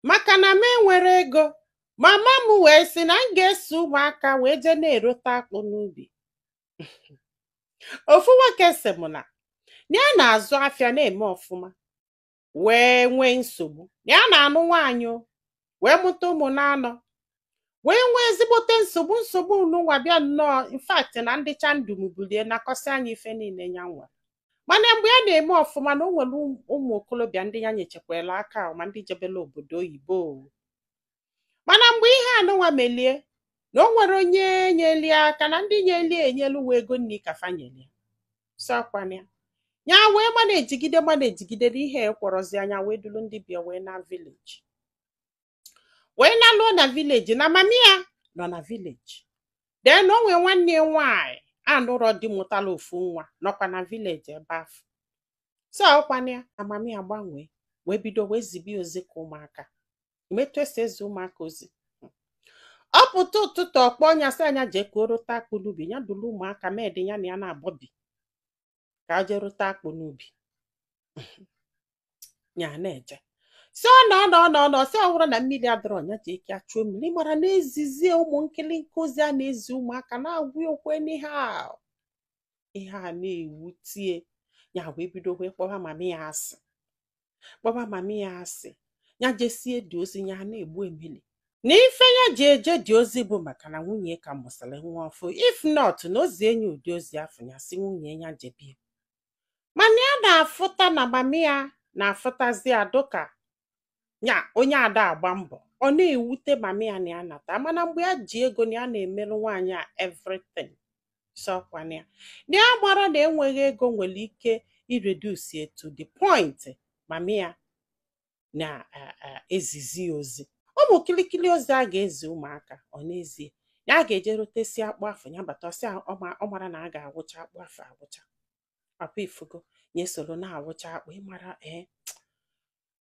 maka na m enwerọ ego mama m wee sị na m ga-eso ụmụaka wee jee na-erote akpụ n'ubi ofu nwoke sị m na na ya na-azụ afịa na-eme ọfụma wee nwee nsogbu na ya na-anụ nwaanyị o, wee mụta ụmụ naanọ wee nwee ezigbote nsogbu nsogbu nụnwa bịa nnọọ in fact na ndị chandum bulie nakọsịa nya ife niile ya nwere mana mgbe ya na-eme ọfụma na o nwere ụmụ okorobịa ndị ya nyechekwara aka ahụ ma ndị jebela obodo oyibo mana mgbe ihe anụnwa melie na o nwerọ onye nyeli ya aka na ndị nyeli enyelu uwe ego nri ka fa nyeli sị ọkwa na ya ya wee mana ejigide mana ejigide na ihe ekwerọzia nya wee duru ndị be ya wee naa vileji wee naluo na vileji na mami ya nọ na vileji den o nwee nwanne ya nwaanyị anụrọ di mụtala ofu nwa nọkwa na vileji ebe afụ sị ọkwa na ya na mami ya gbanwee wee bido wee zibe ya ozi ka ụmụaka ị ma etu e si ezi ụmụaka ozi ọ pụta ụtụtụ ọ kpọọ nya sị nya jee ka o rota akpụ n'ubi ya duru ụmụaka maid ya na ya naabọ bi ka a jee rota akpụ n'ubi ya na-eje si ọ nọ nọ nọ nọ sị ọ bụrụ na mmiri adịrọ nya jee ka a chuo mmiri ị mara na-ezizi ụmụ nkịlịnkị ozi a na-ezi ụmụaka na-agwụ okwe n'ihe a ihe a na-ewutie ya wee bido wee kpọwa mama ya asị kpọba mami ya asị ya jesie the ozi ya na-egbu emili na ife ya ji eje the ozi bụ maka na nwunye ya ka mụsịrị nwa ọfụụ if not na o zie nya ụdị ozi afụ ya asị nwunye ya jebie mana ya na-afụta na mami ya na-afụtazi ya dụka ya onye ada agba mbọ ọ na-ewute mami ya na ya nata mana mgbe ya ji ego na ya na-emere nwaanyị a everything sị ọkwa na ya na ya amarọ na enweghị ego nwere ike ireduce ya to the point mami ya na-ezizi eh, eh, ozi ụmụ kilikili ozi a ga-ezi ụmụaka ọ na-ezi ya a ga-eje rotesịa akpụ afụ ya bata ọ sị ọ mara na a ga-awụcha akpụ afụ awụcha papa ị fụgo ya esoro na-awụcha akpụ ị mara ee eh,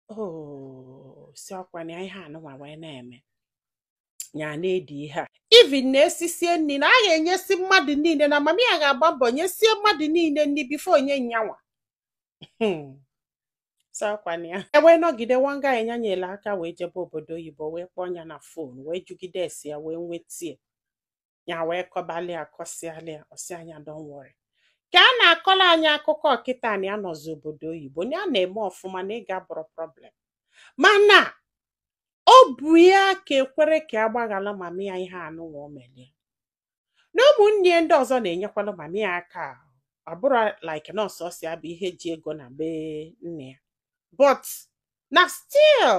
o oh, sị ọkwa na ihe anụnwa wee na-eme ya na-edi ihe a even na e sisie nri na a ga-enyesi mmadụ niile na mama ya ga-agba mbọ nyesie mmadụ niile nri bifo o nye nyanwa hmm. sị ọkwa na ya ewee nọgide one guy nya nyere aka wee jebe obodo oyibo wee kpọọ ya na fon wee jụgide ese ya wee nwetie ya wee kọbalị ya kọsịalị ya ọ sị nya don't worry ka a na-akọlụ anyị akụkọ ọ kịta na ya nọzi obodo oyibo na ya na-eme ọfụma na ego abụrọ problem mana obi ya ka ekwerọ ka a gbaghala mama ya ihe anụnwa o melie na ụmụnne ya ndị ọzọ na-enyekwala mama ya aka ọ bụrọ like na ọ sọọsọ ya bụ ihe ji ego na be nne ya but na still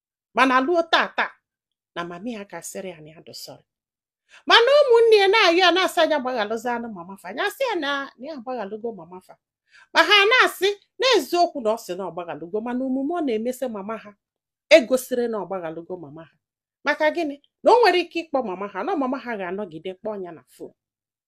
mana luo tata na mami ya akasịrọ ya na ya dụ sorry mana ụmụnne ya na-ayọ ya na-asị nya gbaghalụzianụ mama fa nya asị ya na ya agbaghalụgo mama fa ma ha na-asị n'eziokwu na ọ sị na ọ gbaghalụgo mana omume ọ na-emesi mama ha egosirọ na ọ gbaghalụgo mama ha maka gịnị na o nwere ike ịkpọ mama ha na mama ha ga-anọgide kpọọ ya na phone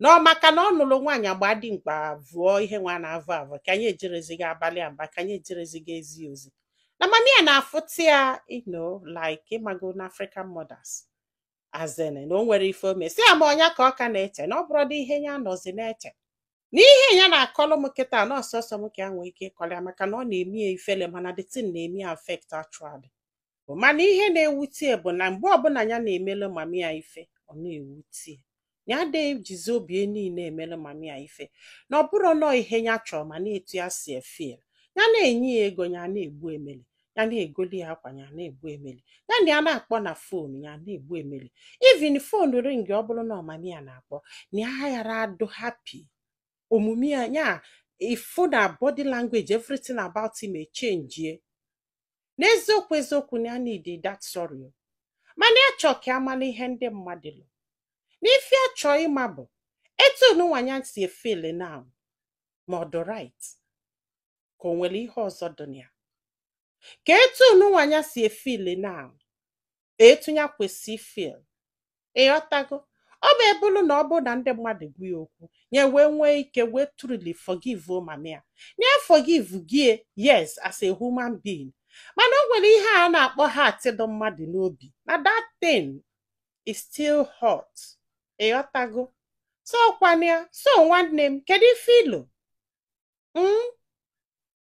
na ọ maka na ọ nụrụ nwaanyị agba dị mkpa vụọ ihe nwa na-avụ avụ ka anyị ejerezighị abalị aba ka anyị ejerezighị ezi ozi na mami ya na-afụta ya you know like ịmago na African mothers as in na o nwere ife o mesi ya ma ọ nya ka ọ ka na-eche na ọ bụrọdị ihe ya nọzi na-eche na ihe ya na-akọlụ m kịta na ọ sọsọ m ka ya nwee ike ịkọlụ ya maka na ọ na-eme ya ifele mana the thing na-eme ya affect actually mana ihe na-ewute ya bụ na mgbe ọbụla ya na-emelu mami ya ife ọ na-ewute ya ya adịghị ejizi obi ya niile emelu mami ya ife na ọ bụrụ nọọ ihe ya chọrọ mana etu ya si efeel ya na-enye ya ego ya na-egbu emeli ya na-egoli ya akwa ya na-egbu emeli ya na ya na-akpọ na phone ya na-egbu emeli even phone ring ọ bụrụ na ọ mami ya na-akpọ na ya ghara adụ happy omume ya ya ifu na body language everything about him echenjie n'eziokwu eziokwu na ya need that sorry mana ya chọọ ka ya mala ihe ndị mmadụ lo n'ife ya chọọ ịma bụ etu nunwa nya si efeel na ma ọ dị right ka o nwere ihe ọzọ dị na ya ka etu nunwa nya si efeel na etu ya kwesị ifeel ịghọtago ọ bụ ebulu na ọ bụrụ na ndị mmadụ gwa ya okwu ya wee nwee ike wee truly forgive o mama ya na ya forgivego ya yes as a human being mana o nwere ihe a na-akpọ heart dị mmadụ n'obi na that thing is still hurt ịghọtago so kwana ya so nwanne m kedu ife i lo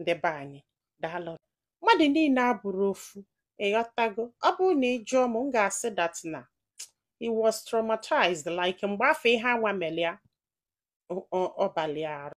ndị be anyị daalụ mmadụ niile abụrọ ofu ịghọtago ọ bụrụ na ị jụọ m m ga-asị that na he was traumatized like mgbe afọ ihe anwa mere ya ọ- ọ- ọ balụ ya arụ